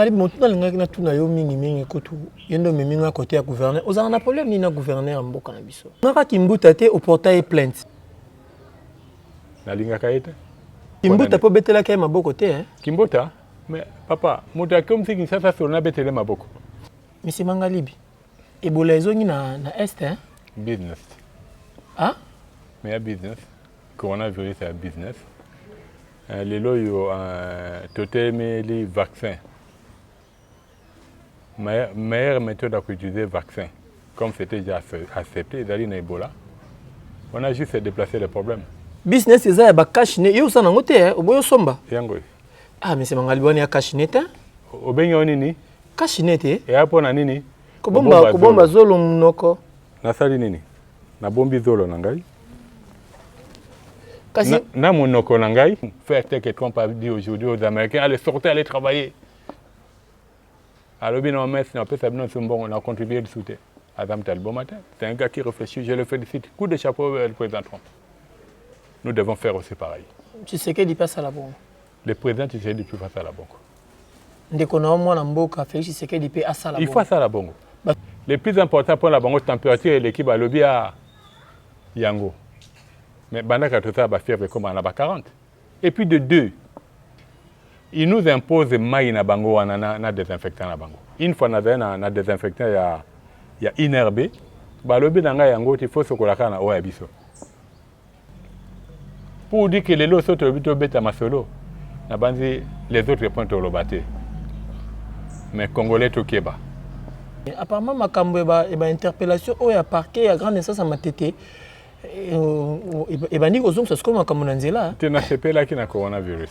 Fally motu nalingaki natuna yo mingi mingi kutu ye nde omemi nga kote ya gouverneur ozalaka na problème nini na gouverneur ya mboka na biso ngaka kimbuta te oporta ye plainte nalingaka ye te kimbuta mpo obetelaki ye maboko te eh? kimbuta mais papa moto akomisi kinshasa solo nabetele maboko misi mangalibi ebola ezongi na, na est eh? business ah? mais ya business coronavirus ya business Eh, lelo oyo eh, totelemeli vaccin meilleure méthode ya koutiliser vaccin comme c'était déjà accepté ezali na ebola on a juste déplacé le problème business eza ya bakashi ne yo oza nango te eh, oboyi osomba yango oyo ah mese mangali bwani ya kashi ne te obengi yo nini kashi ne te eya mpo na nini kobomba zolo monoko nasali nini nabombi zolo na ngai Kasi... na, na monoko na ngai faire tel que Trump a dit aujourd'hui aux Américains allez sortez allez travailler alobi na omesi napesa bino nso mbongo na contribue lisu te aza moto aliboma te c'est un gars qui réfléchit je le félicite coup de chapeau le président Trump nous devons faire aussi pareil Tshisekedi mpe asala bongo Le président Tshisekedi il faut asala bongo. Ndeko na yo mwana mboka Felix Tshisekedi mpe asala bongo. Il faut asala bongo. Ba... Le plus important mpo na bango température eleki balobi ya ah, yango. Mais bandaka tosala ba fièvre ekoma na ba 40. Et puis de deux, il nous impose mai na bango wana na, na désinfectant na bango. Une fois nazali na, na désinfectant ya, ya INRB, balobi na ngai yango te, il faut sokolaka na oyo ya biso. pour dire que lelo so tolobi tobeta masolo nabanzi les autres point toloba te mais congolais tokeba apparemment makambo eba interpellation oyo ya parquet ya grande instance ya matete ebandi kozongisa sikoyo makambo na nzela te nasepelaki na coronavirus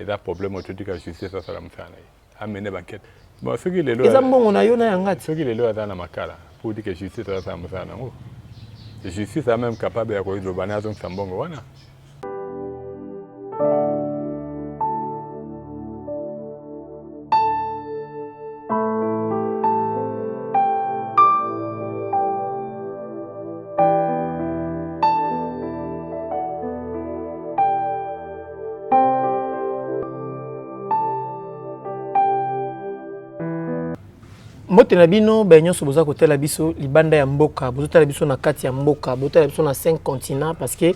eza problème oyo totika justice asala mosala na ye amene bankete bon soki lelo eza mbongo na yo na ya ngati soki lelo aza na makala mpo otika justice asala mosala nango justice a même capable ya koezoba na azongisa mbongo wana mbote na bino baye nyonso boza kotala biso libanda ya mboka bozotala biso na kati ya mboka botala biso na 5 continent parce que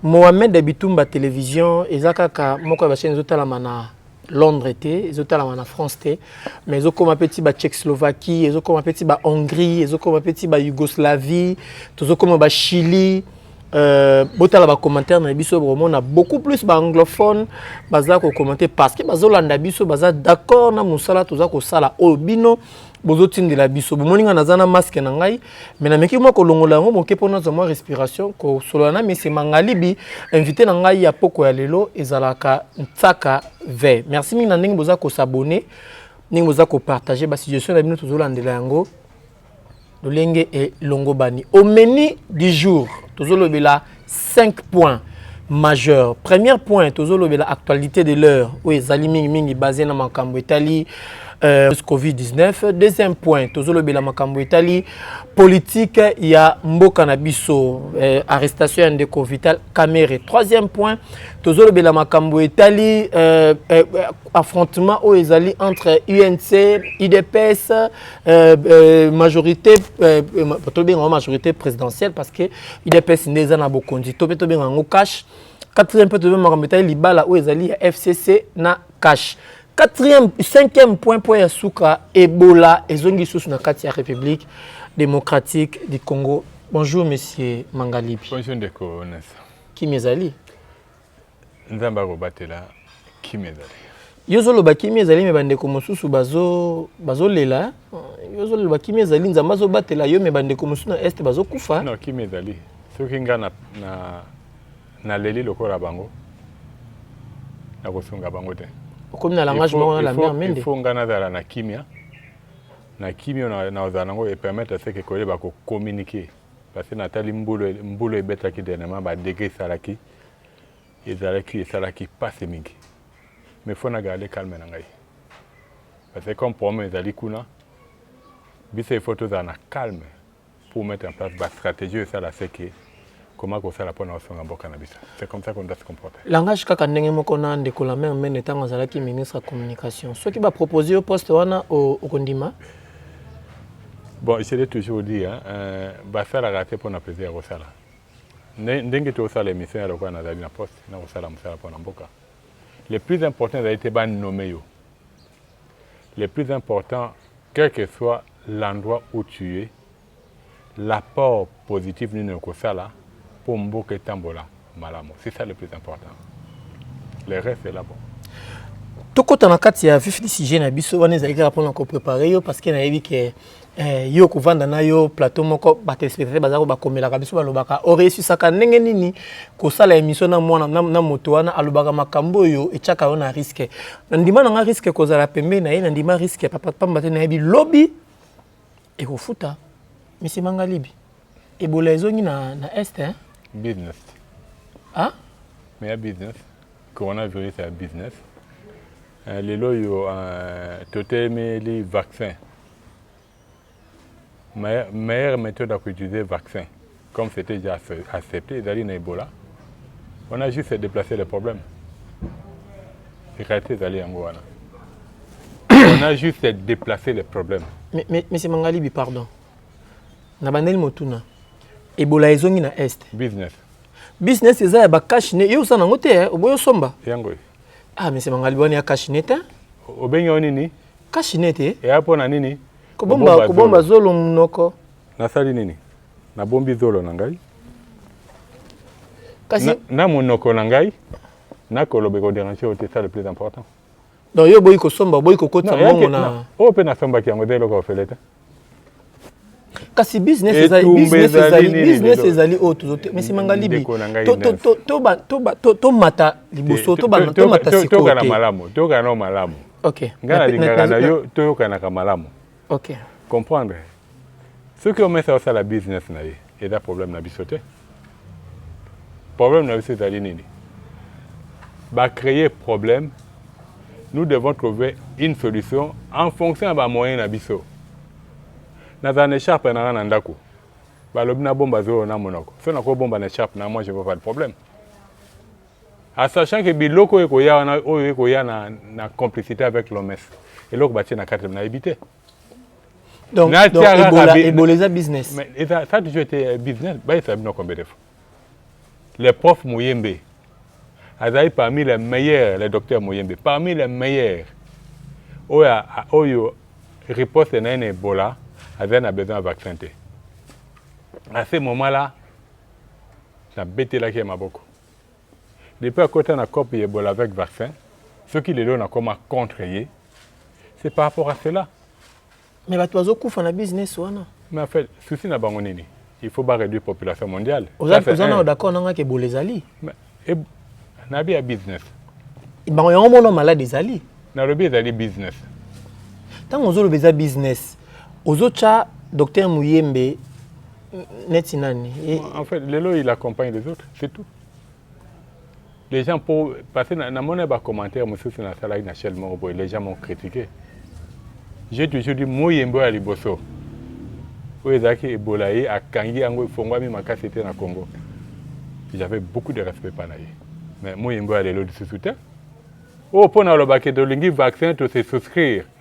mohamed bitumba télévision eza kaka moko ya bachaine ezotalama na Londres te ezotalama na France te mais ezokoma pe ti ba Tchecoslovaquie ezokoma pe ti ba Hongrie ezokoma pe ti ba Yougoslavie tozokoma ba Chili Euh, botala bacommentaire na biso bokomona beaucoup plus baanglophone baza kocommente parce que bazolanda biso baza d'accord na mosala toza kosala oyo bino bozotindela biso bomoni ngai naza na maske na ngai me nameki mwa kolongola yango moke mpo nazwa mwa respiration kosolola na mese mangalibi invité na ngai ya poko ya lelo ezalaka nsaka ve merci mingi na ndenge boza kosabone ndenge boza kopartage basuggestion na bino tozolandela yango lolenge elongobani omeni du jour tozolobela 5 points majeur premier point tozolobela actualité de l'heure oyo ezali mingimingi base na makambo etali euh, covid-19 deuxième point tozolobela makambo etali politique ya mboka na biso euh, arrestation ya ndeko vital camere troisième point tozolobela makambo etali euh, euh, affrontement oyo ezali entre unc idps euh, euh, majorité euh, euh tolobengaka majorité présidentielle parce que udps nde eza na bokonzi to mpe tobenga yango cash quatrième mpe tobenga makambo etali libala oyo ezali ya fcc na cash quatrième cinquième point mpo ya suka ebola ezongi lisusu na kati ya république démocratique du congo bonjour monsieur mangalibi bonjour ndeko nesa kimi ezali Nzambe akobatela kimia ezali. Yo ozoloba kimia ezali me bandeko mosusu bazolela bazo yo ozoloba kimia ezali nzambe azobatela yo me bandeko mosusu na este bazokufa no, kimia ezali soki nga na, na, na leli lokola bango nakosunga bango te okomi na langage moko na la mer mende ifo nga nazala na kimia na kimia na, na ozala nango epermettre seke koyeba kocommuniquer parce que natali mbulu mbulu ebetaki dernièrement badegre esalaki ezalaki esalaki pasi mingi mais faut na garde calme na ngai parce que comme problème ezali kuna biso il faut tozala na calme pour mettre en place ba stratégie oyo esala se ke comment kosala mpo na osunga mboka na biso c'est comme ça qu'on doit se comporter langage kaka ndenge moko na ndeko la mère mene ntango azalaki ministre ya communication soki bapropose yo poste wana okondima bon je l'ai toujours dit hein, euh, basalaka te mpo na plaisir ya kosala Ndenge tozosala emission ya lokola nazali na poste na kosala mosala mpo na mboka, le plus important ezali te ba nomme yo, le plus important quel que soit l'endroit où tu es, l'apport positif nini okosala mpo mboka etambola malamu, c'est ça le plus important, le reste est là bon. tokota na kati ya vif du sujet na biso wana ezali kaka mpona koprepare yo parce que nayebi ke Eh, yo kovanda na yo plateau moko batelespectateur baza ko bakomelaka biso balobaka oreusisaka ndenge nini kosala émission na mwana na, na moto wana alobaka makambo oyo etyaka yo na riske na ndima na nga riske kozala pembe na ye na ndima riske papa pamba te nayebi lobi ekofuta misi manga libi ebola ezongi na, na est hein? business ah? mais ya business coronavirus ya business Eh, lelo oyo eh, totemeli vaccin meilleure méthode ya koutiliser vaccin comme c'était déjà accepté ezali na ebola on a juste déplacé le problème réalité ezali yango wana on a juste déplacé le problème mais, mais, monsieur mangalibi pardon na bandeli motuna ebola ezongi na est business business eza ya bacashne yo osala yango te eh, oboyi osomba yango Ah, mais c'est Mangaliwani ya cash net. Hein? Obengi yo nini? Cash net. Eh? Et hapo na nini? Kobomba kobomba zolo munoko. Nasali nini? Nabombi zolo na ngai. Kasi na, na munoko na ngai nakoloba ekoderange yo te, ça le plus important. Donc yo boyi kosomba, boyi kokotisa mbongo na. Oyo mpe nasombaki yango eza eloko ofele te. kasi business ezali business ezali business ezali oyo tozo te mais simanga libi to to to to ba to ba to to mata liboso to ba to mata sikoyo to kana malamu to kana malamu okay ngana lingaka na yo to yo kana ka malamu okay comprendre soki omesa osala business na ye eza problème na biso te Problème na biso ezali nini? Ba créer problème, nous devons trouver une solution en fonction ya ba moyens na biso. Nazala na écharpe na nga na ndako, balobi na bomba zolo na monoko, so nako bomba na écharpe na moi je vois pas de problème. A sachant que biloko oyo ekoya wana oyo ekoya na, na complicité avec l'OMS, eloko batie na kati nayebi te. Donc, Na donc tiaka Ebola, kabi- Ebola eza business. Mais et ça, ça a toujours été euh, business. Bah, il fait bien combien de fois. Le prof Mouyembe, Azaï parmi les meilleurs, le docteur Mouyembe, parmi les meilleurs. Oyo, a- a- oyo riposte na un Ebola, Azaï a besoin de vaccin. te. À ce moment-là, na betelaki ye maboko. Depuis akota na coop ya ebola avec vaccin, soki lelo nakoma contre ye, c'est par rapport à cela. Mais bato bazokufa na business wana. Mais en fait, souci na bango nini? Il faut ba réduire population mondiale. Oza oza na d'accord nanga ke bola ezali. Mais na bi ya business. Bango yango mona malade ezali. Nalobi ezali business. Ntango ozoloba eza business. Ozocha docteur Muyembe neti nani Et... En fait, Lelo il accompagne les autres, c'est tout. Les gens pour parce que na mona ba commentaires mususu na sala na Shell Morobo, les gens m'ont critiqué. J'ai toujours dit Muyembe ya liboso. Oyo ezalaki ebola ye akangi yango efongwami makasi te na Congo. J'avais beaucoup de respect par ye. Mais Muyembe ya lelo lisusu te. Oh, pour na lobaki tolingi vaccin to se souscrire.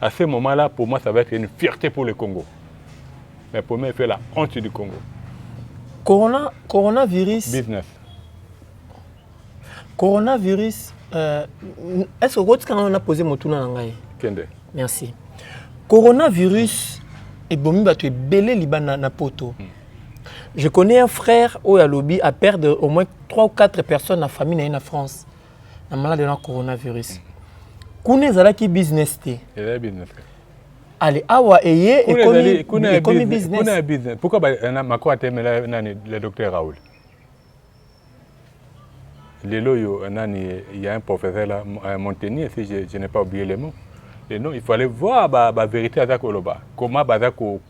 A ce moment là pour moi ça va être une fierté pour le Congo. Mais pour moi il fait la honte du Congo. Corona coronavirus business. Coronavirus euh, est-ce que okotika ngai na poser motuna na ngai? Kende. Merci. Coronavirus ebomi bato ebele libanda na poto. Hmm. Je connais un frère oyo alobi a perdre au moins 3 ou 4 personnes na famille na ye na France. na malade na coronavirus kuna ezalaki business te ale awa eye ekomi business pourquoi euh, mako atemela nani le docteur raoul lelo oyo euh, nani il y a un professeur là euh, montenier si je, je n'ai pas oublié le mot et non il fallait voir ba, ba vérité aza koloba comment baza ko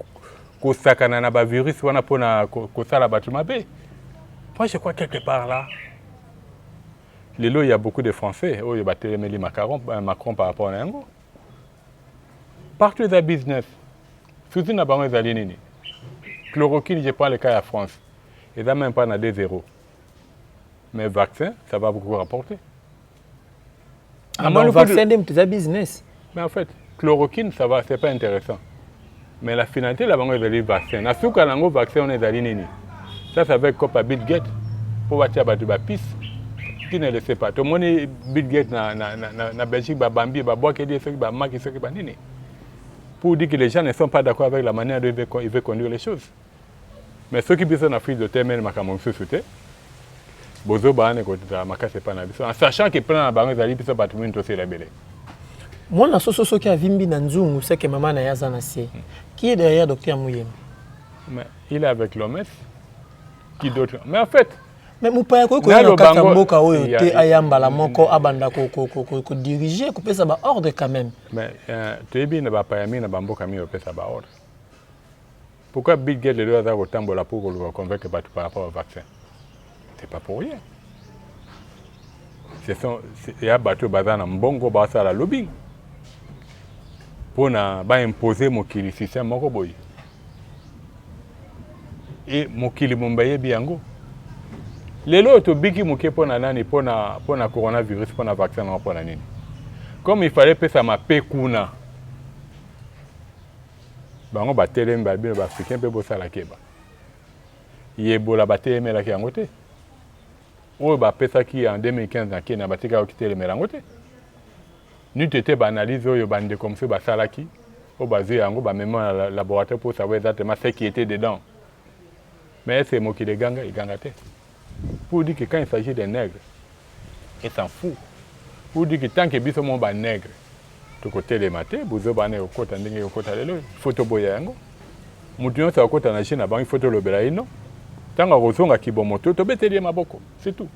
kosakana na bavirus wana mpona kosala bato mabe moi je crois quelque part là Lelo il ya beaucoup de français oyo ba telemeli Macron euh, Macron par rapport na yango. Partout eza business. Souci na bango ezali nini? Chloroquine, je prends le cas ya France. Eza même pas na 2 0. Mais vaccin, ça va beaucoup rapporter. amoni kutu vaccin nde moto eza business mais en fait chloroquine ça va c'est pas intéressant mais la finalité la bango ezali vaccin na suka na yango vaccin wana ezali nini ça c'est avec copa bill gate mpo batia bato bapise qui ne le sait pas tomoni bill gate na, na, na, na, na belgique babambi babwakeli ye soki bamaki soki banini pour dire que les gens ne sont pas d'accord avec la manière dont il veut conduire les choses Mais soki biso na Afrique totemeli makambo mosusu te, bozoba wana ekozala makasi epai na biso en sachant que plan na bango ezali biso bato mini tosila ebele. Mwana soso soki avimbi na nzungu seke mama na ye aza na se. Hmm. Qui est derrière docteur Muyembe? Mais il est avec l'OMS. Qui d'autre? Mais en fait, mais mopaya akoki koya na kati ya mboka oyo te aya mbala moko abanda kodirige kopesa baordre quand même mais euh, toyebi na bapaya mingi na bamboka mingi opesa baordre Pourquoi Bill Gates lelo aza kotambola pour koluka convaincre bato par rapport au vaccin C'est pas pour rien. Ce sont ya bato baza na mbongo basala lobbying mpona ba imposer mokili système moko boye. Et mokili momba yebi yango. Lelo oyo tobiki moke mpona nani mpona mpona coronavirus mpona vaccin yango mpona nini? Comme il fallait pesa mape kuna Bango batelemi ba bino ba africain pe bosala keba. Yebola batelemelaki yango te. Oyo bapesaki en 2015 na Kenya batika kitelemela yango te. N'eût été ba analyse oyo ba ndeko mosusu basalaki oyo bazui yango bamema na laboratoire pour savoir exactement ce qui était dedans. Mais est ce que mokili eganga? Eganga te. Pour dire que quand il s'agit des nègres, et s'en fout. Pour dire que tant que biso mo ba nègres, tokotelema te, buzoba wana ekokota ndenge ekokota lelo, il faut toboya yango. Mutu nyonso akota na jeu na bango, il faut tolobela ye non. Tango akozonga kibomoto, tobeteli ye maboko, c'est tout.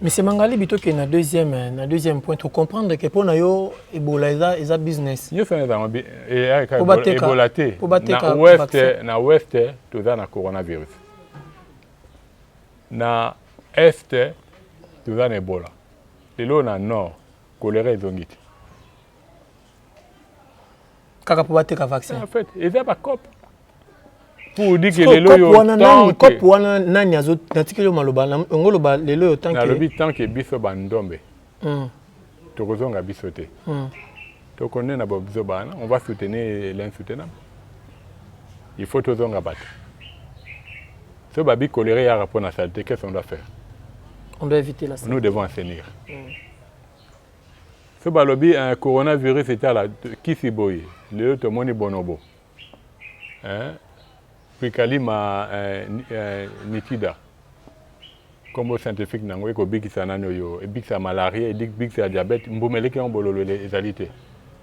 Monsieur Mangalibi tokende na deuxième na deuxième point to comprendre que mpo na yo ebola eza eza business nyonso wana ezango bi- e- aya kaka Mpo ebola- bateka- ebola te mpo bateka na ouest vaccin. na ouest toza na coronavirus na est toza na ebola lelo na nord kolera ezongi te kaka mpo bateka vaccin en fait eza ba cop pour dire que lelo yo tant que cop wana nani azo natikeli yo maloba yango loba lelo yo tant que nalobi tant que biso ba ndombe hmm. tokozonga biso te hmm. tokonde na bobiso bana on va soutenir l'insoutenable il faut tozonga bato so babi colere yaka mpo na salite qu'est ce qu'on doit faire on doit éviter la salite nous devons assainir hmm. Soki balobi eh, coronavirus etala kisi boye, lelo tomoni bonobo eh, prikalima eh, eh, nitida kombo scientifique nango ekobikisa nani oyo ebikisa malaria ebikisa diabète mbuma eleki yango bololo ezali te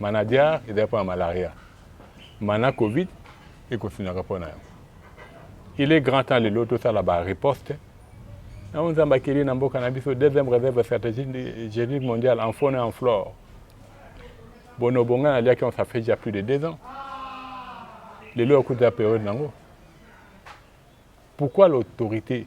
Manadiar ezali mpo na malaria. Mana covid ekosunaka mpo na yango. Il est grand temps lelo tosala ba riposte na oyo Nzambe akeli na mboka na biso deuxième réserve stratégique mondiale en faune et en flore. Bonobo ngai naliaki on ça fait déjà plus de deux ans. Lelo akuti ya periode nango. Pourquoi l'autorité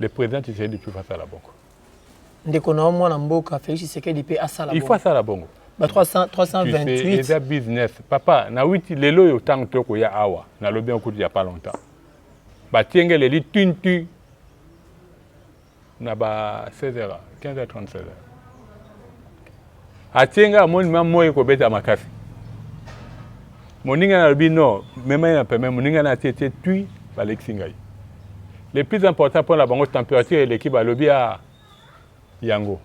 Le president Tshisekedi pe asala bongo. Ndeko na yo mwana mboka Felix Tshisekedi pe asala bongo. Il faut asala bongo. Ba 300 328 eza business. Papa na witi lelo yo tango to ko ya awa na lobi en kutu ya pas longtemps. Ba tiengele li tun tun na ba 16h 15h 30 16h. atie ngai amoni ma moi ekobeta makasi moninga nalobi no mema ye na peme moninga na atie tie tui balekisi ngai le plus important mpo na bango température eleki balobi a ah, yango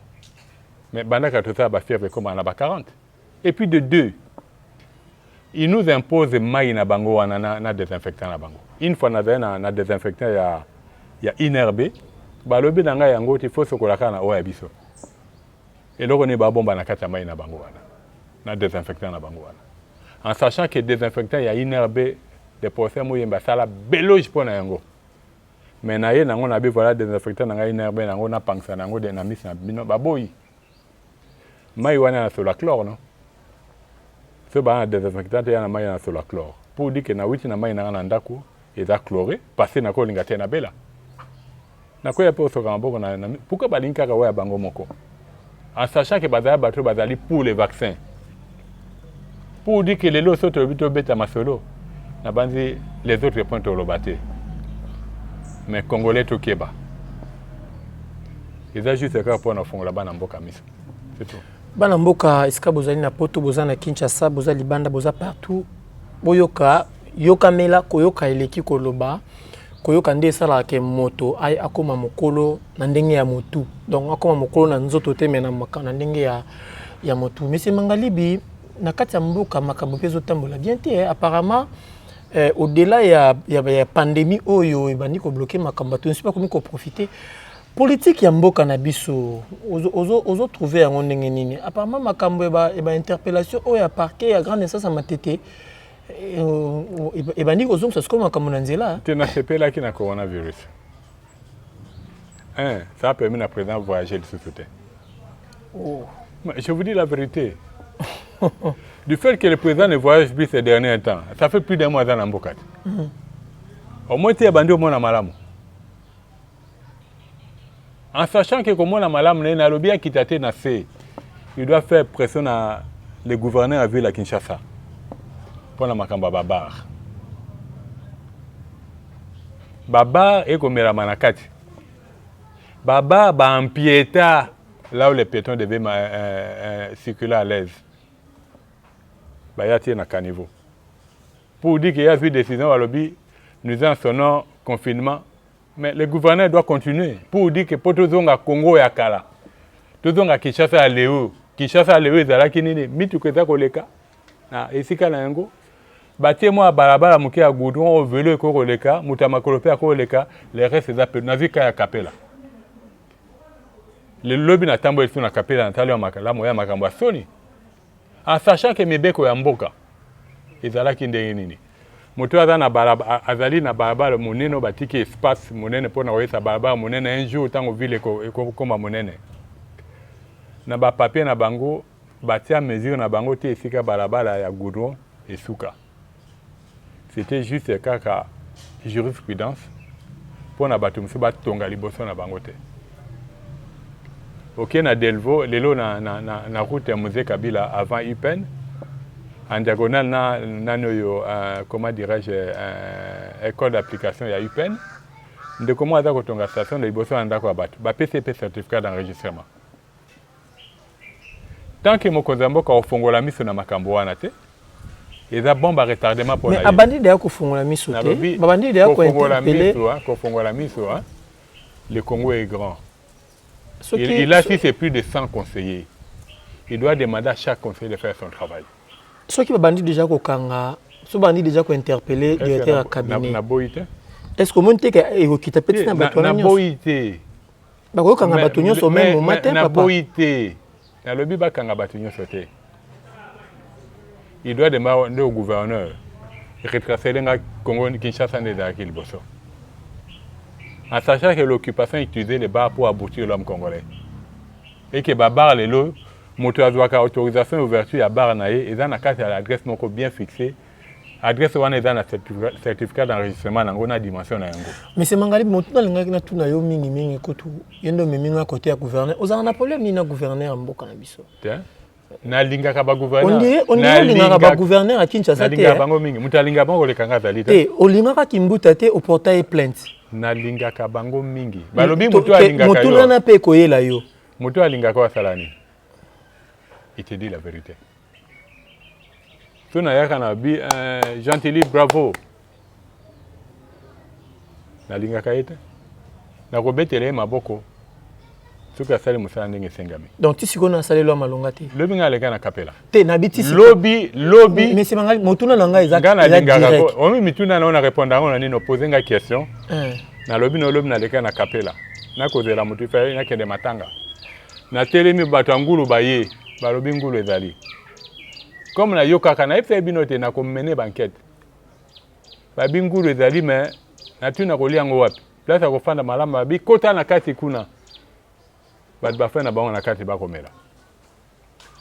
mais bandaka tosala bafièvre ekomaka na ba 40 et puis de deux il nous impose mai na bango wana na, na désinfectant na bango une fois nazali na, na désinfectant ya, ya inerbe balobi na ngai yango te fo sokolaka na oyo ya biso Eloko nini ba bomba na kati ya mayi na bango wana na desinfectant na bango wana en sachant que desinfectant ya INRB le professeur Muyembe asala beloge mpo na yango mais na ye na yango na bi voilà desinfectant na ngai INRB na yango napangisa na yango de na misi na bino baboyi mayi wana na sola chlore no soki baa na desinfectant te ya na mayi na sola chlore pour dire que na witi na mayi na nga na ndaku eza chlore parce na ko linga te na bela na ko ya pe osoka maboko na, na pourquoi balingi kaka oya bango moko en sachant que bazala bato bazali pour les vaccins pour dire que lelo so tolobi tobeta masolo na banzi les autres points toloba te mais congolais tokeba eza juste kaka mpo na kofongola bana mboka miso c'est tout Bana mboka esika bozali na poto boza na Kinshasa boza libanda boza partout boyoka yokamela koyoka eleki koloba koyoka nde esalaka ke moto akoma mokolo na ndenge ya motu donc akoma mokolo na nzoto te me na ndenge ya, ya motu monsieur mangalibi na kati ya mboka makambo mpe ezotambola bien te eh, apparemment eh, au-delà ya, ya, ya pandémie oyo ebandi kobloke makambo bato nyonso bakomi koprofite Politique ya mboka na biso ozo trouver yango ndenge nini? Apparemment makambo ya ba interpellation oyo ya parquet ya grande instance ya Matete ebandi kozongisa sikoyo makambo na nzela. Te nasepelaki na coronavirus. Hein, ça a permis na président voyager lisusu te. Oh. Je vous dis la vérité. du fait que le président ne voyage plus ces derniers temps, ça fait plus d'un mois dans Nambokat. Mm -hmm. Au moins, tu as bandé au moins à Malamou. en sachant que komona malamu na ye nalobi akita te na se il doit faire pression na le gouverneur ya ville ya kinshasa mpo na makambo ya babare babare ekomelama na kati babare baampieta là où les piétons devaient euh, euh, circuler à l'aise baya tie na caniveau pour dire que ya vie décision balobi nous en sonnons confinement Mais le gouverneur doit continuer pour dire que po tozonga Congo ya kala, tozonga Kinshasa ya leo. Kinshasa ya leo ezalaki nini? Mituka eza koleka na esika na yango, batie mwa balabala moke ya goudron oyo velo ekoki koleka, moto ya makolo mpe akoki koleka, le reste eza pe. Nazwi ka ya Kapela lobi, natamboli biso na Kapela, natali ya makalamu ya makambo ya soni En sachant que mibeko ya mboka ezalaki ndenge nini? Moto aza na balabala, azali na balabala monene, batiki espace monene mpo na koyesa balabala monene. Un jour ntango ville ekokoma monene, na ba papier na bango batia mesure na bango te esika balabala ya goudron esuka. C'etait juste kaka jurisprudence mpo na bato mosusu batonga liboso na bango te. Oke na Delvaux lelo na, na, na, na route ya Mzee Kabila avant UPN en diagonale na nani oyo uh, comment dirais-je uh, école d'application ya UPN ndeko moko aza kotonga station na liboso na ndako ya bato bapesi ye mpe certificat d'enregistrement tant que mokonzi ya mboka ofongola miso na makambo wana te eza bombe retardement mpo na abandi deya kofongola miso te babandi deya kofongola miso ah, kofongola miso ah. le congo est grand Soki, il, il a si c'est plus de 100 conseillers il doit demander à chaque conseiller de faire son travail soki babandi déjà kokanga so bandi déjà kointerpelle directeur ya cabinet naboyi te est ce que omoni te ekokita mpe ntina bato wana nyonso naboyi te bakoki kokanga bato nyonso meme moment te papa naboyi te nalobi bakanga bato nyonso te il doit demeure nde gouverneur retracele nga congo kinshasa nde ezalaki liboso en sachant que l'occupation utilisait les bars pour aboutir l'homme congolais et que babar lelo moto azwaka autorisation ya ouverture ya bar na ye eza na kati ya adresse moko bien fixée adresse wana eza na certificat d'enregistrement nango na dimension na yango monsieur mangali motu nalingaki natuna yo mingi mingi kutu ye nde omemi nga kote ya gouverneur ozalaka na problème nini na gouverneur ya mboka na biso nalingaka bagouverneur bagouverneur ya kinshasa te bango mingi moto alingaka bango koleka nga azali te olingaka kimbuta te oporta ye plainte nalingaka bango mingi balobi motu alingaka yo motuna na mpe ekoyela yo motu alingaka oyo asala nini il te dit la vérité tuna yaka na bi eh, gentili bravo nalingaka ye te nakobetela ye maboko soki asali mosala ndenge esengami donc ti sikoyo nasaleli ya malonga te lobi ngai aleka na kapela te nabi ti lobi lobi mesi mangai motuna na ngai ezangai nalingaka omi mituna na yo na répondre yango na nini opose ngai question eh. nalobi na olobi naleka na kapela nakozela moto ifa nakende matanga Natelemi, bato ya ngulu baye, balobi ngulu ezali. Comme nayokaka, nayebisaki bino te nakomene bankete. Babi ngulu ezali, me natuni nakolia yango wapi? Place ya kofanda malamu, babi kota na kati kuna, bato bafai na bango na kati bakomela.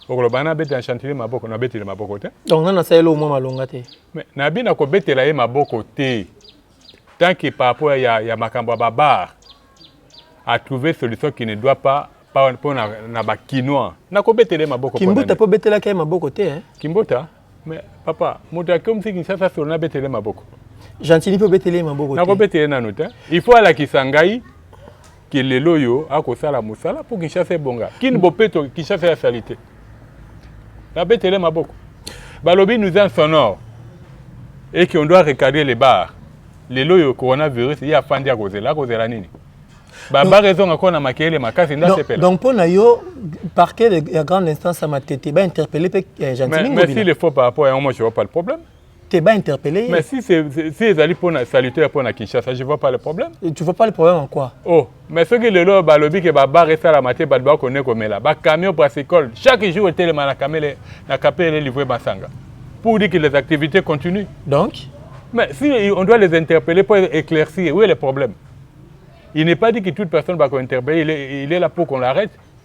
okoloba na abetela chantier maboko na betele maboko te donc nana saelo mwa malonga te mais nabi na kobetela ye maboko te tant que par rapport ya, ya makambo ya babar a trouver solution qui ne doit pas mpo na, na bakinois nakobetele maboko kimbuta mpo obetelaki ye maboko te eh? kimbuta mais papa moto akomisi kinshasa solo nabetele maboko gentili mpe obetele ye maboko te nakobetele nanu te il faut alakisa ngai ke lelo oyo akosala mosala mpo kinshasa ebonga kini bopeto kinshasa ya salite nabetele maboko balobi nous en sonore et qu'on doit recadrer les bars lelo oyo coronavirus ye afandi akozela akozela nini babare ezonga kona makele makasi nda sepela donc mpo na yo parquet ya grande instance ya matete bainterpelle mpe eh, gentilmesi le faux par rapport yango moi je vois pas le problème te ba interpeller mais si c'est si ezali pour na salutaire pour na Kinshasa je vois pas le problème Et tu vois pas le problème en quoi oh mais soki lelo balobi ke ba bar esala mate bato bakone komela ba camion brassicole chaque jour etelema na kamele na kapele livre masanga pour dire que les activités continuent donc mais si on doit les interpeller pour éclaircir où est le problème il n'est pas dit que toute personne va interpeller il est, il est là pour qu'on l'arrête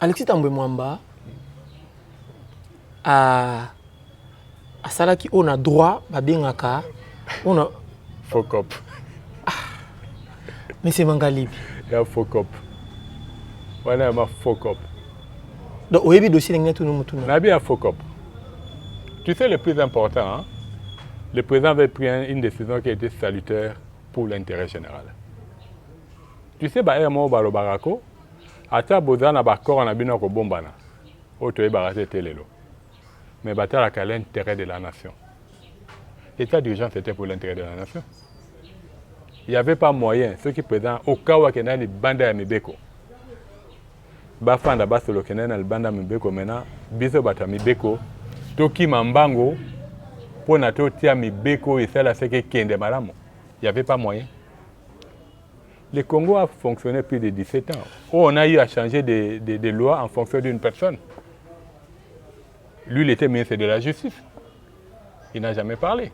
Alexis Tambwe Mwamba a asalaki oyo na droit babengaka oyo na focop monsieur Mangalibi ya focop wana ya ma focop donc oyebi dossier ndenge natuni motuna nayebi ya focop tu sais le plus important hein? le président avait pris une décision qui était salutaire pour l'intérêt général tu sais baere moko balobaka ko Ata boza na ba accord na bino ya kobombana oyo toyebaka te tee lelo mais batalaka l'interet de la nation. Etat d'urgence etait pour l'interet de la nation. Il y avait pas moyen soki president au cas où akenda libanda ya mibeko bafanda basolo kenda na libanda ya mibeko mena biso bato ya mibeko tokima mbango mpo na totia mibeko oyo esala seke ekende malamu. Il y avait pas moyen. Le Congo a fonctionné plus de 17 ans, où on a eu à changer des de, de lois en fonction d'une personne. Lui, il était ministre de la Justice. Il n'a jamais parlé.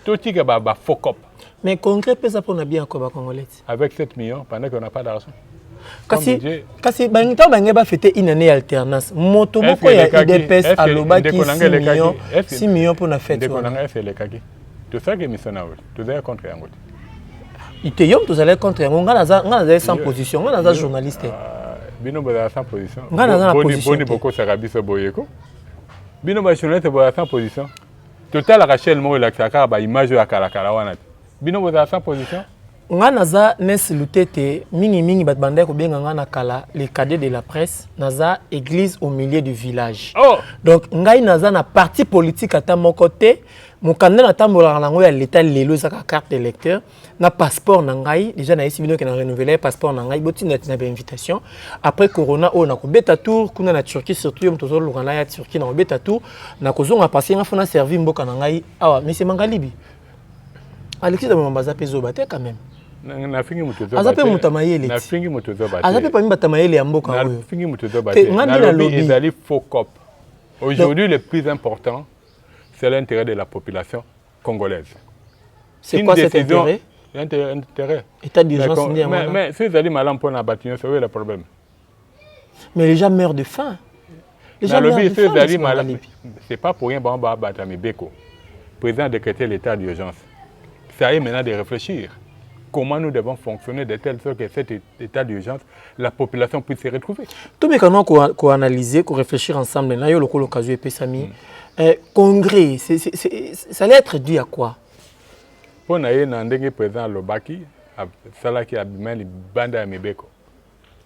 Tout ce qui est faux cop. Mais congrès pesa pour na bien quoi congolais. Avec 7 millions pendant qu'on n'a pas d'argent. kasi kasi ntango bangai bafete une année ya alternance moto moko ya udps alobaki 6 million mpo na fete wana tosaki emission na yo tozalaki contre yango te ite yo moto ozalaki contre yango ngai nazali sans position ngai naza journaliste ah, bino bozala sans position ngai naza na positionni bokosaka biso boyeko bino bajournaliste bozala sans position totalaka chaîne moko elakisaka kaka baimage oyo ya kalakala wana te bino bozala sans position nga naza nes lutete mingimingi bato bandaki kobenga nga na kala le cadet de la presse naza église au milieu du village oh! donc ngai naza na parti politique ata moko te mokanda natambolaka na yango ya leta lelo eza kaka carte électeur na passeport na ngai deja nayesi bino ke na renouvele passeport na ngai botinatina bainvitation après corona oyo nakobeta tour kuna na turquie surtout yo moto ozoluka na ya turquie nakobeta tour nakozonga pase nga fo na servi mboka na ngai awa mese mangalibi alexis damamamba aza mpe zoba te quand même aza mpe moto ya mayele aza mpe pami bato ya mayele ya mboka oyo ngai nde nalobi aujourd'hui le plus important c'est l'intérêt de la population congolaise. C'est quoi cet intérêt Intérêt. État d'urgence mais, mais, mais si ezali malamu mpo na bato nyonso oyo le problème mais les gens meurent de faim nalobi so ezali malamu c'est pas pour rien bango babata mibeko président a décrété l'état d'urgence ça est maintenant de réfléchir comment nous devons fonctionner de telle sorte que cet état d'urgence la population puisse se retrouver. Tout le monde ko analyser, ko réfléchir ensemble. Là, yo le colo kazu pesami. Mm. Euh, congrès, c'est c'est c'est ça allait être dû à quoi? Pour na ye na ndenge président Lobaki, sala ki abimani banda ya mibeko.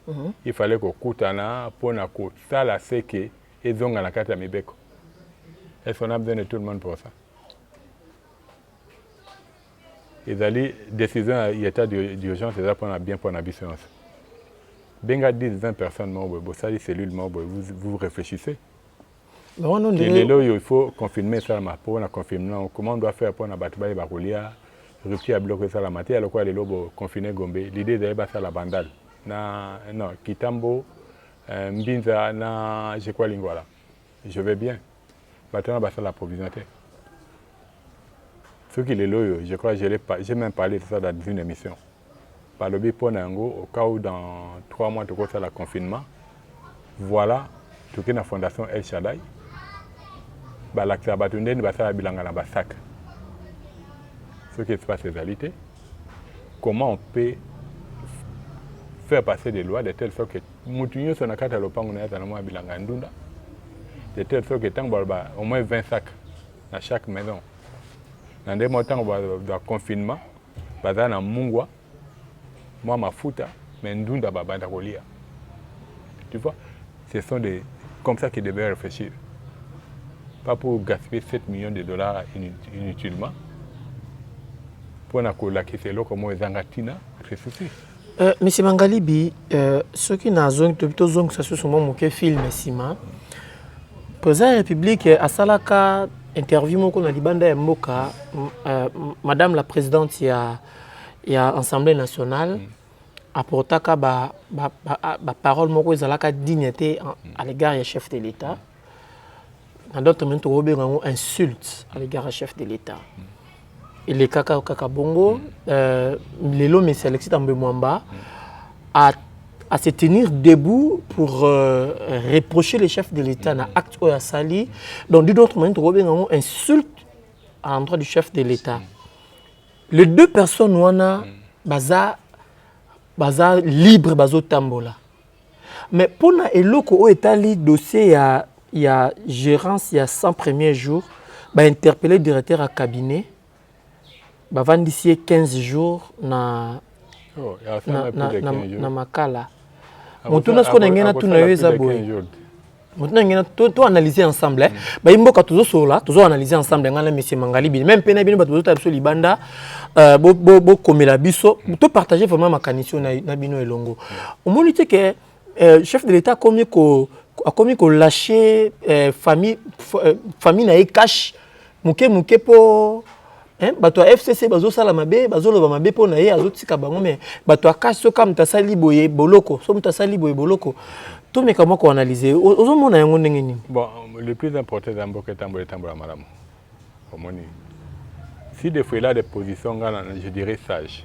Mm -hmm. Il fallait ko kutana pour na ko sala c'est que ezonga na kati ya mibeko. Est-ce qu'on a besoin de tout le monde pour ça? Ezali decision ya etat d'urgence eza pona bien pona biso yonso. Benga 10 20 personnes moko boye bosali cellule moko boye vous, vous réfléchissez. Ke lelo oyo il faut confinement esalama mpo na confinement comment on doit faire mpo na bato bayeba kolia rupture ya biloko esalama te ya lokola lelo bo confine Gombe l'idée ezali basala bandal na non Kitambo euh, Mbinza na je crois Lingwala je vais bien Bato wana basala provision te. Soki lelo oyo, je crois, j'ai même parlé de ça dans une émission. Balobi mpo na yango, au cas où dans trois mois tokosala confinement, voilà, toke na fondation El Shaddai, balakisa bato ndeni basala bilanga na basaka. Soki espace ezali te, comment on peut faire passer des lois de telle sorte que motu nyonso na kati ya lopango na ye azala mwa bilanga ya ndunda de telle sorte que ntango baloba au moins 20 sac na chaque maison na ndenge moko ntango ba confinement baza na mungwa mwa mafuta mais ndunda babanda kolia tu vois ce sont des comme ça qu'ils devaient réfléchir pas pour gaspiller 7 millions de dollars inutilement mpo na kolakisa eloko moko ezanga ntina ceci Euh, Monsieur Mangalibi, euh, soki na zongi to bito zongi sa susu mo moke film sima. Président de République asalaka interview moko na libanda ya mboka euh, madame la présidente ya ya Assemblée nationale mm. apportaka ba ba, ba, ba parole moko ezalaka digne te à l'égard ya chef de l'État. na d'autres minutes okobenga yango insulte à l'égard ya chef de l'état mm. elekaka kaka bongo mm. euh, lelo mesi alexis tambe mwamba mm. a à se tenir debout pour euh, reprocher les chefs de l'État na acte oyo asali donc d'une autre manière tokobenga yango insulte à l'endroit du chef de l'État les deux personnes wana baza baza libre bazotambola Mais pona eloko oyo etali dossier ya ya gerance ya 100 premier jour ba interpelle directeur ya cabinet bavandisi ye 15 jour na oh, na, na, na, na makala motuna sikoyo na ngai natuna yo eza boye motinangena to analyser ensemble eh. bayi mboka tozosolola tozo analyser ensemble ngai na monsieur mangalibini meme mpe na bino bato bozotala biso libanda euh, bokomela biso to partage vraiment makanisi na bino elongo omoni te ke euh, chef de l'état akomi ko akomi kolache euh, famille famille na ye cache muke muke po hein bato ya FCC bazo sala mabe bazo loba mabe po na ye azo tika bango mais bato ya kasi soka mutu asali boye boloko so mutu asali boye boloko to meka moko analyser ozo mona yango ndenge nini bon le plus important dans mboka etambola etambola malamu omoni si des fois il a des positions ngana je dirais sage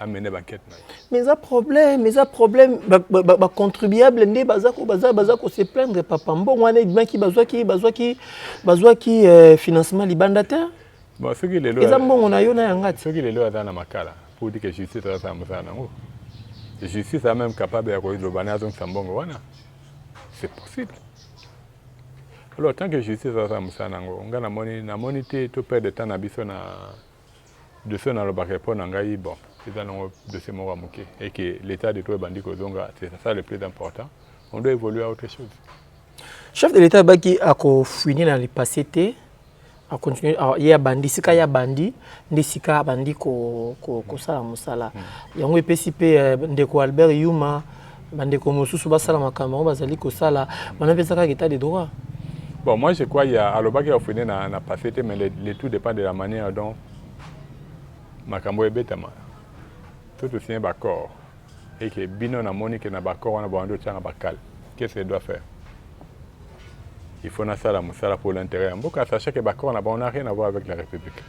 amene bankete na ye mais eza problème eza problème bacontribuable nde baza kose plaindre papa mbongo wana ebimaki bazwaki bazwaki bazwaki euh, financement libanda te soki lelo eza mbongo na yo na yanga te soki lelo aza na makala pour dire que justice azasala mosala nango justice a même capable ya koloba na azongisa mbongo wana c'est possible alors tant que justice azasala mosala nango nga namoni namoni te to perdre temps na biso na Dossier oyo nalobaka epayi na ngai, bon, eza nango dossier moko ya muke et que l'etat de droit ebandi kozonga, c'est ça le plus important, on doit evoluer à autre chose. Chef de l'etat abaki ako fouiner na le passé te, a continuer a ye abandi sika ye abandi nde sika abandi ko kosala mosala yango epesi mpe ndeko Albert Yuma bandeko mosusu basala makambo yango bazali kosala wana mpe ezaka état de droit bon moi je crois ya alobaki ya ofine na, na passé te mais le, le tout dépend de la manière dont makambo ebetama tout signe baccord et que bino namoni ke na baccord wana bawandi otyanga bakale qu'est-ce que doit faire il faut nasala mosala pour l'intérêt ya mboka sachant que baccord na bango na rien avoir avec la république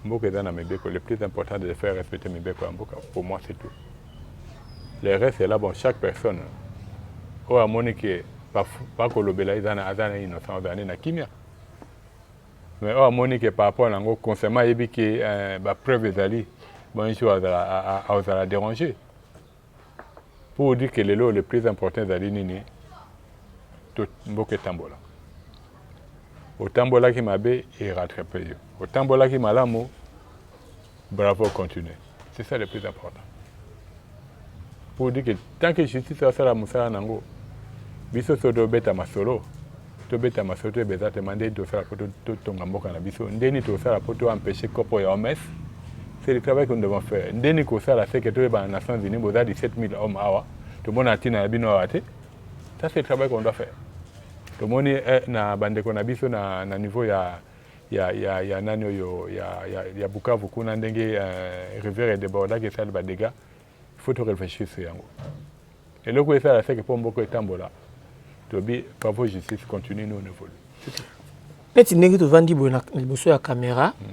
mboka eza na mibeko le plus important de faire respecter mibeko ya mboka pour moi c'est tout le reste est là bon chaque personne oyo amoni ke bakolobela ba ezana aza na innocent ozala nde na kimia mais oyo amoni ke par rapport na yango constamment ayebi ke euh, bapreuve ezali bon un jour azala déranger pour dire ke lelo le plus important ezali nini to mboka etambola otambolaki mabe erattrape yo otambolaki malamu Bravo, continuez. C'est ça le plus important. Pour dire que tant que justice asala mosala nango, biso so tobeta masolo, tobeta masolo toyeba exactement ndeni tosala mpo totonga mboka na biso, ndeni tosala mpo to empêcher kopo ya OMS. C'est le travail que nous devons faire. Ndeni kosala c'est que toyeba na Nations Unies boza 17 000 hommes awa, tomona ntina na bino awa te. Ça c'est le travail qu'on doit faire. tomoni eh, na bandeko na biso na, na niveau ya ya, ya, ya nani oyo ya, ya, ya Bukavu kuna ndenge uh, rivière edebordaki esali ba dégâts il faut to réfléchir sur yango eloko esala seke mpo mboko etambola tobi bravo justice continue nous on évolue neti ndenge tovandi boye na liboso ya caméra mm.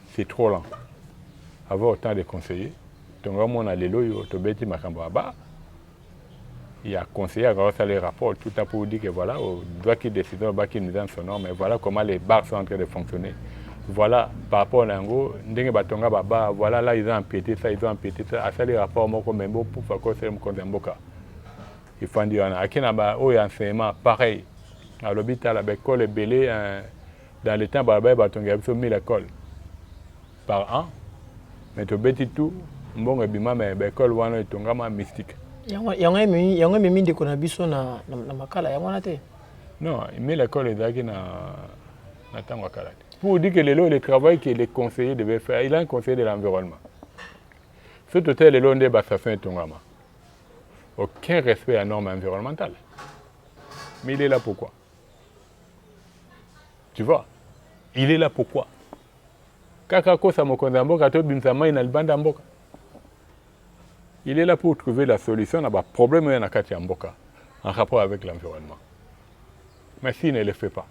C'est trop lent. Avoir autant de conseillers, tonga mona lelo yo tobeti makambo aba ya conseiller akaka sala rapport tout à pour dire que voilà au droit qui décide au qui nous son nom mais voilà comment les bars sont en train de fonctionner voilà par rapport na yango ndenge batonga baba voilà là ils ont empiété ça ils ont empiété ça asali rapport moko mais bo pour faire quoi c'est mokonzi ya mboka ifandi wana ake na ba oyo enseignement pareil alobi tala baekole ebele Dans le temps balabala batongela biso 1000 ecoles par an mais tobeti tout mbongo ebima mais ba ecoles wana etongama mystique. Yango yango ememi yango ememi ndeko na biso na na makala yango wana te. Non, 1000 ecoles ezalaki na na tango kala te. Pour dire que lelo le travail que les conseillers devaient faire, il a un conseiller de l'environnement. Ce total lelo nde ba station etongama. Aucun respect à norme environnementale. Mais il est là pourquoi? Tu vois? Il est là pourquoi? Kaka kosa mokonzi ya mboka to bimisa mai na libanda ya mboka. Il est là pour trouver la solution na ba problèmes ya na kati ya mboka en rapport avec l'environnement. Mais s'il ne le fait pas,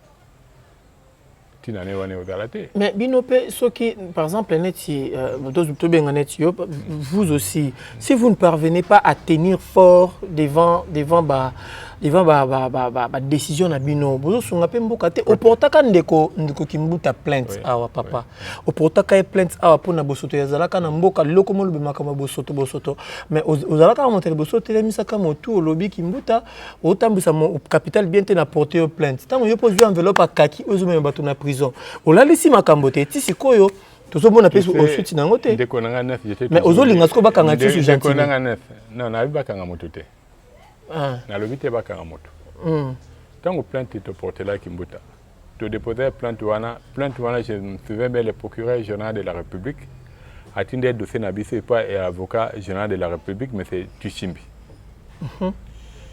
ntina ne wana ekozala te mais bino mpe soki par exemple neti euh, tobenga neti yo vous aussi si vous ne parvenez pas à tenir fort devant devant ba devant ba ba ba ba, ba décision na bino bozosunga mpe mboka te oportaka ndeko ndeko kimbuta plainte awa papa oportaka ye plainte awa mpo na bosoto yazalaka na mboka loko molobi makambo ya bosoto bosoto mais ozalaka moto ya liboso otelemisaka motu olobi kimbuta otambwisa capital bien te na porte yo plainte ntango yo mpo ozwi enveloppe akaki oyo ezomema bato na prison olalisi makambo te ti sikoyo tozomona mpe osuti na yango te ndeko na nga nef mais ozolinga sikoyo bakanga ti su gentil na nga nef non nayebi bakanga moto te ah. nalobi te bakanga moto hmm. ntango plainte toportelaki mbuta To deposer plainte wana, plainte wana je me souviens bien le procureur général de la République atindeli dossier na biso epa ya avocat général de la République monsieur Tushimbi. Mm -hmm.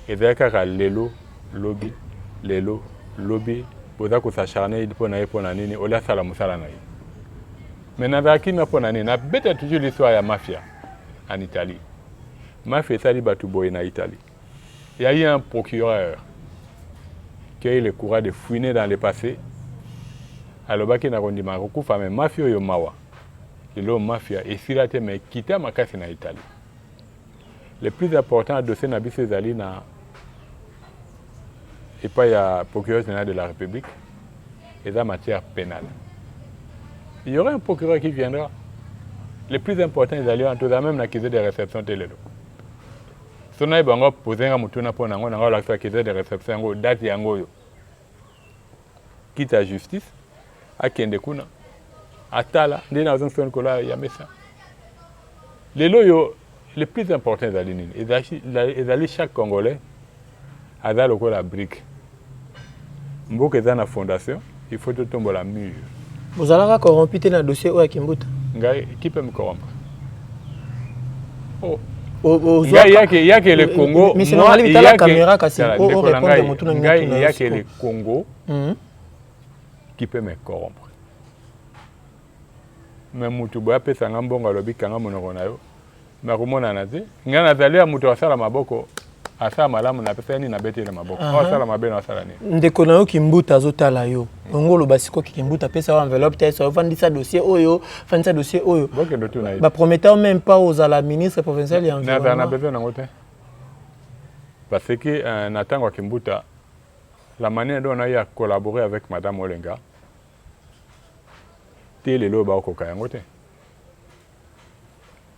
Ezali kaka lelo lobi lelo lobi boza kosacharne mpo na ye mpo na nini olia asala mosala na ye me nazala kimia mpo na nini nabeta toujours l'histoire ya mafia en italie mafia esali bato boye na italie Il y a eu un procureur qui a eu le courage de fouiner dans le passé. Alobaki na kondima kokufa mais mafia oyo mawa. Lelo mafia esila te mais kita makasi na Italie. Le plus important dossier na biso ezali na epai ya procureur général de la République eza matière pénale. Il y aura un procureur qui viendra. Le plus important ezali wana tozala même na accusé de réception te lelo. so naye bango pose nga motuna mpo nango nanga olakisa kese de reception yango date yango oyo kita justice akende kuna atala nde nazo nsoni kola ya mesa lelo oyo le plus important ezali nini ezali chaque congolais aza lokola brique mboka eza na fondation il faut totombola mur bozalaka corrompu te na dossier oyo ya kimbuta ngai qui peut me corrompre oh. yake yake le Congo mais c'est normal bitala caméra kasi o o répondre mutu na ngai yake le Congo qui peut me corrompre mais mutu boye apesa nga mbongo alobi kanga monoko na yo mais akomonana te nga nazali ya mutu asala maboko asala malamu na pesa nini nabeti na maboko uh -huh. asala mabe na asala nini ndeko na yo kimbuta azotala yo yango oloba sikoyo kimbuta apesa yo enveloppe te so ofandisa dossier oyo fandisa dossier oyo baprometao même pas ozala ministre provincial ya environnement na besoin nango te parce que euh, na ntango ya kimbuta la manière dont on a eu à collaborer avec madame olenga Te lelo oyo bakokoka yango te.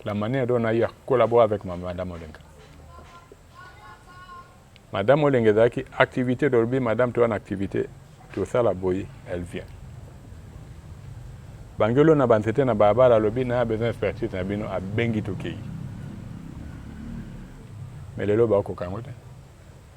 La manière dont on a eu à collaborer avec Madame Olenga. Madame Olenga ezalaki activité dolobi Madame toa na activité tosala boyi elle vient. Bangelo na banzete na balabala alobi na besoin expertise na bino abengi tokei. Mais lelo bakokoka yango te.